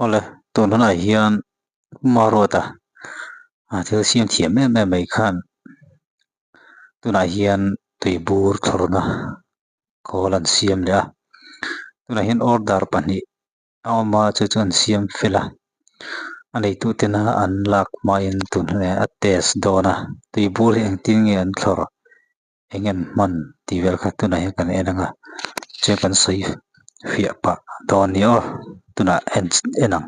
awle tun hunah hian khuma road a ah thil siam thiam em em mai khan tunah hian tui bur thlawrhna khawl an siam leh a tunah hian order pahnih-- A awm a, chu chu an siam fel a, a neitu tena an lak hmain tun hne a test dawn a, tui bur hi engtin nge an thlawr eng an hman tih vel kha tunah hian kan en anga che kan sawi fiah pah dawn ni aw tunah en en ang.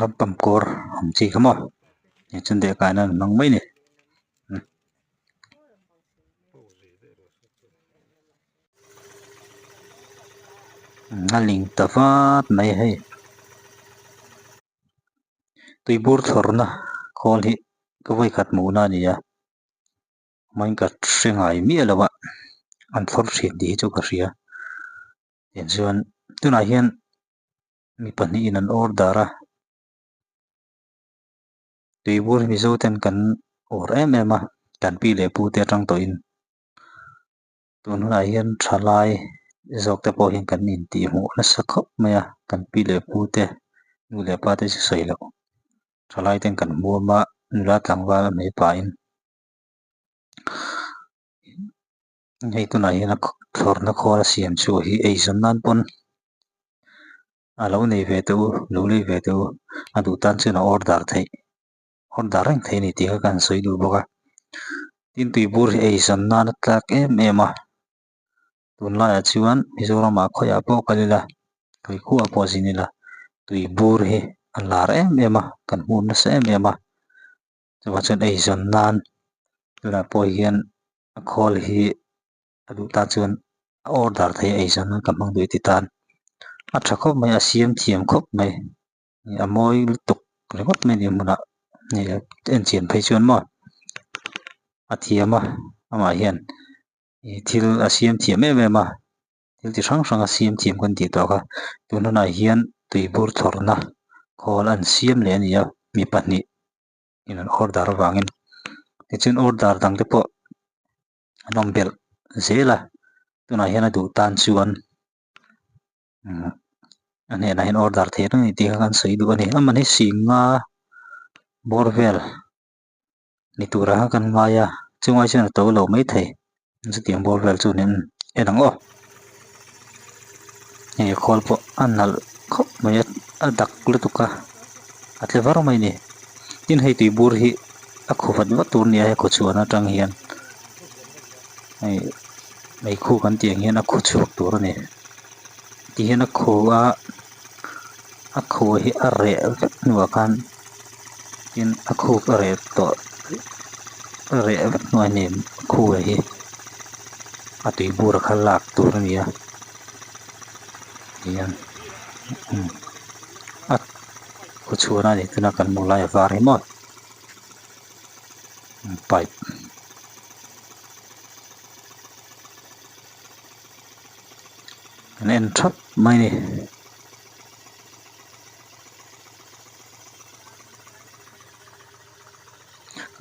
Ram tam kawr ang chi kha maw ni chuan deh kai nan an hmang mai ni umm umm a ling ta vat mai hei tui bur thlawrna khawl hi ka vawi khat muhna a ni a. Mawin ka hre ngai miah lo a, an thlawr chhiat tih hi chu ka hria. Tichuan tunah hian mi pahnih in an awr dar a, tuibur Mizo ten kan awr em em a, kan pi leh pu te atang tawh in. Tun hunah hian tha lai zawk te pawh hian kan in tih hmuh nasa khawp mai a, kan pi leh pu te, nu leh pa te chu sawi loh. Tha lai ten kan hmuam a, nula tlangval a hme pah in. hei tunah hian a thlawrhna khawla siam chu hi eizawn nan pawn a lo nei ve tawh u lo lei ve tawh u a duh tan chuan a order theih order reng theih a ni tih kha kan sawi duh bawk a tin tui bur hi eizawn nana tlak em em a tun laiah chuan Mizoram ah khawiah pawh ka lil a Kaikua ah pawh zin ila tui bur hi a lar em em a kan hmun nasa em em a. chungah chuan eizawn nan tunah pawh hian a call hi a duh ta chuan a order theih eizawn nan ka hmang duh i ti tan a tha khawp mai a siam thiam khawp mai a mawi lutuk ringawt mai a nih hmunah ni loh a enchian phei chuan maw a thiam a amah hian ih thil a siam thiam em em a. thil ti hrang hranga siam thiam kan tih tawh kha tun hunah hian tui bur thlawrhna khawl a an siam leh a ni a mi pahnih in an order avangin tichuan order dangte pawh an awm belh zel a tunah hian a duh tan chuan umm a hnenah hian order theih reng ang tih kha kan sawi duh a ni a mahni singa bawr vel. ni tura kan hmai a chungai chuan a to lo mai thei chutiang bawr vel chu min en ang aw hei khawl pawh a nalh khawp mai a a dak lutuk a a tle var mai ni tin hei tui bur hi a khaw vat vat tur a ni a hei khaw chhuahna atang hian hei meikhu kan tih ang hian a khaw chhuak tur a ni ti hian a khaw a-- a khu hi a reh hnuah khan tin a khu ka reh tawh a reh hnuah nen a khu leh hi a tui bur a khal lak tur a nia tihian umm a khaw chhuahna leh tuna kan hmuh lai a var hi mawt pipe . an en thap mai ni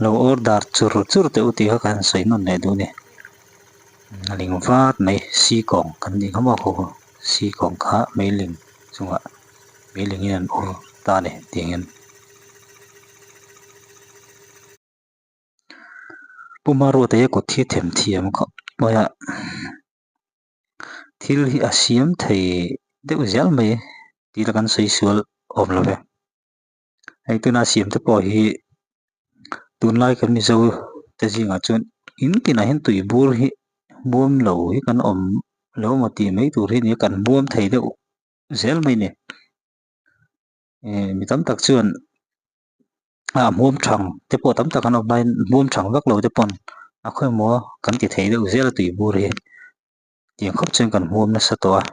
lo order chur chur teh u tih kha kan sawi nawt leh duh ni a ling vat mai sikawng kan tih kha maw haw haw sikawng kha mei ling chungah mei ling in an awrh ta a ni tih ang hian. Puma ruat eia kawt hi them thiam khawp mai a, thil hi a siam thei deuh zial mai tih la kan sawi sual awm lo ve. Hei tuna siam te pawh hi tunlai kan mizo te zingah chuan in tinah hian tui bur hi buam lo hi kan awm lo maw tih mai tur hi a ni a, kan buam thei deuh zel mai a ni. Ehh mi tam tak chuan-- ah hmum thang te pawh tam tak an awm line hmum thang vak lo te pawn a khawimawh a kan ti thei deuh zel a tui bur hi tiang khawp chuan kan hmum nasa tawh a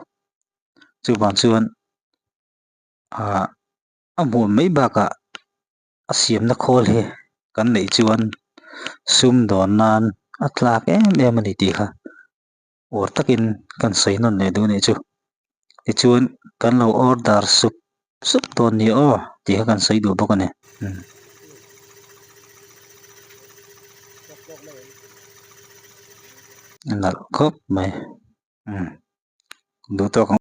chuvang chuan ah a hmuh mai bakah a siamna khawl hi kan neih chuan sum dawn nan a tlak em em a ni tih kha. ur takin kan sawi nawn leh duh anih chu tichuan kan lo order sup sup dawn ni aw tih kha kan sawi duh bawk a ni umm a nalh khawp mai umm duh tawk ang.